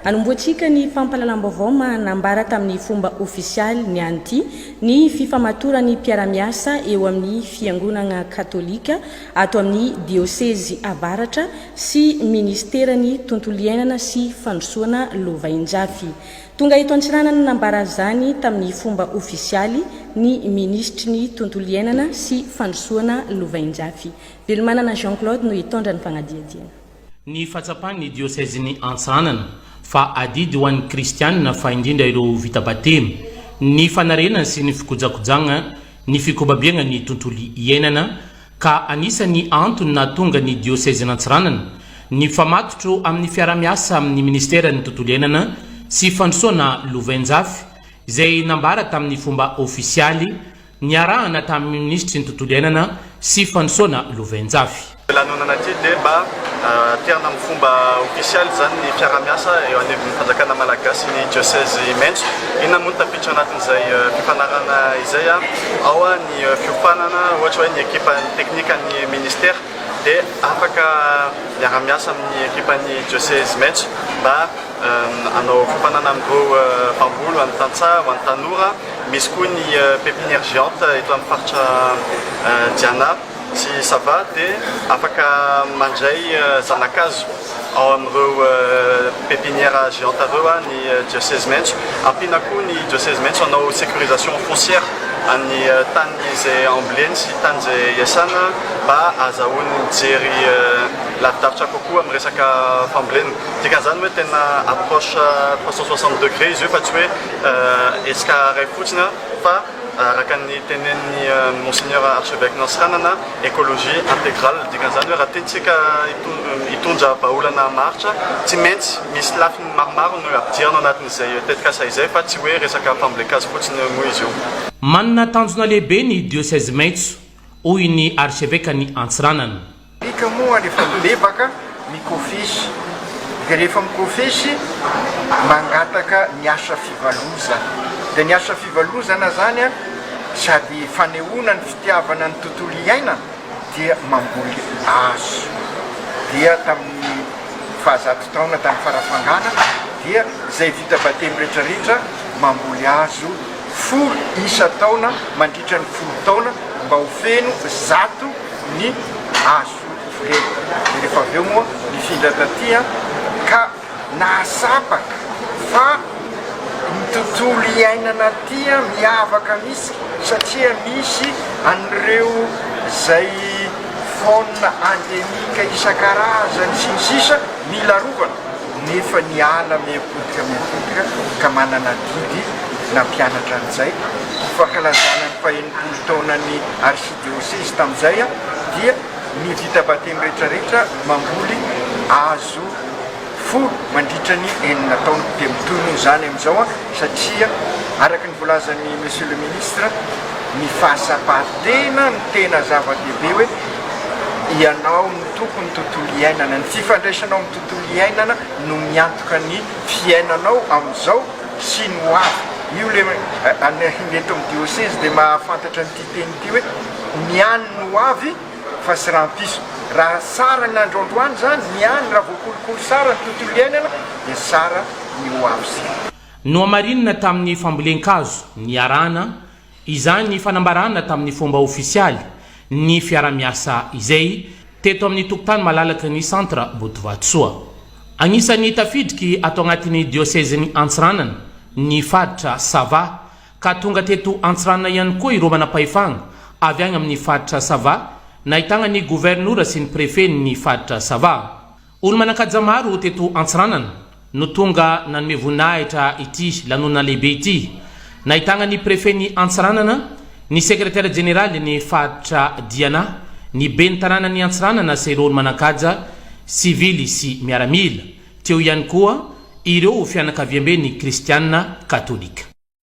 Anombohantsika ny fampahalalam-baovao manambara tamin'ny fomba ofisialy ny anti ny fifamatoran'ny mpiara-miasa eo amin'ny Fiangonagna Katolika ato amin'ny Diosezy Avaratra sy Ministeran'ny Tontolo Iainana sy Fandrosoana Lovainjafy. Tonga eto Antsiranana nanambara izany tamin'ny fomba ofisialy ny Minisitry ny Tontolo Iainana sy Fandrosoana Lovainjafy, Velomanana Jean Claude no hitondra ny fanadihadiana. Ny fahatsapan'ny diosezin'i Antsahanana fa adidy ho an'ny kristianina fa indrindra ireo vita batemy, ny fanarenana sy ny fikojakojagna ny fikobabiagna ny tontolo iainana ka anisan'ny antony nahatonga ny diosezin'Antsiranana nifamatotro amin'ny fiarahamiasa amin'ny ministeran'ny tontolo iainana sy fandrosoana lovainjafy izay nambara tamin'ny fomba ofisialy Niarahana tamin'ny minisitry ny Tontolo iainana sy Fandrosoana Lovainjafy. Lanonana ity dia mba aterina amin'ny fomba ofisialy izany ny fiaraha-miasa eo anivon'ny fanjakana malagasy sy ny dioseze Imento. Inona moa no tafiditra ao anatin'izay fifanarahana izay? Ao ny fiofanana ohatra hoe ny ekipan'ny teknikan'ny ministera dia afaka miara-miasa amin'ny ekipan'ny dioseze Imento mba Hanao fampanana amin'ireo mpamboly, ho an'ny tantsaha, ho an'ny tanora. Misy koa ny pépinière géante eto amin'ny faritra Diana sy Sava dia afaka mandray zana-kazo ao amin'ireo pépinière géante ireo ny diocèse maitso. Ampiana koa ny diocèse maitso hanao sécurisation foncière an'ny tany izay amboleny sy tany izay iasana mba ahazahoany mijery lavidavitra kokoa amin'ny resaka fambolena. Dikan'izany hoe tena approche trois cent soixante degré izy io fa tsy hoe hetsika iray fotsiny fa araka ny tenenin'i Monseigneur Archevêque Nansiranana, écologie intégrale. Dikan'izany hoe raha tiantsika hitondra vahaolana maharitra, tsy maintsy misy lafiny maromaro no ampidirina ao anatin'izay tetikasa izay fa tsy hoe resaka fambolen-kazo fotsiny moa izy io. Manana tanjona lehibe ny dioseze maitso hoy ny Arsevekan'i Antsiranana. Midika moa any efa mibebaka, mikofesy, dia rehefa mikofesy, mangataka ny asa fivalozana. Dia ny asa fivalozana izany sady fanehoana ny fitiavana ny tontolo iainana dia mamboly azy. Dia tamin'ny fahazato taona tany Farafangana dia izay vita batemy rehetra rehetra mamboly azy. folo isa taona mandritra ny folo taona mba ho feno zato ny azo ireny dia rehefa avy eo moa nifindra taty an ka nahatsapa fa ny tontolo iainana aty an miavaka mihitsy satria misy an'ireo izay faune endemique isan-karazany sy ny sisa mila arovana nefa niala miha-potika miha-potika ka manana adidy na mpianatra an'izay, ny fankalazana ny fahenimpolo taonan'ny arsidiosezy tamin'izay dia ny vita batemy rehetra rehetra mamboly hazo folo mandritra ny enina taona, dia mitohy noho izany amin'izao satria araka ny voalazan'i Monsieur le Ministre ny fahasapan-tena no tena zava-dehibe hoe ianao no tompon'ny tontolo iainana, ny fifandraisanao amin'ny tontolo. Tontolo iainana no miantoka ny fiainanao amin'izao sy ny ho avy. Io le any eto amin'ny diosezy dia mahafantatra an'ity teny ity hoe ny any no ho avy fa tsy rahampitso. Raha tsara ny andro androany izany, ny any, raha voakolokolo tsara ny tontolo iainana dia tsara ny ho avy. Nohamarinina tamin'ny fambolen-kazo niarahana Izany fanambarana tamin'ny fomba ofisialy ny fiarahamiasa izay teto amin'ny tokontany malalaky ny Centre Botovatosoa. Anisan'ny tafidriky ato agnatin'ny diosezin'i Antsiranana ny faritra Sava ka tonga teto Antsiranana ihany koa ireo manampahefagna avy agny amin'ny faritra Sava nahitagna ny governora sy ny prefen'ny faritra Sava. Olo-manan-kaja maro teto Antsiranana no tonga nanome voninahitra ity lanonana lehibe ity. Nahitagna ny Prefen'i Antsiranana, ny Sekretera Jeneralin'ny Faritra Diana, ny Ben'ny Tanànan'i Antsiranana sy ireo olo-manan-kaja sivily sy miaramila. Teo ihany koa ireo fianakaviamben'ny Kristiana Katolika.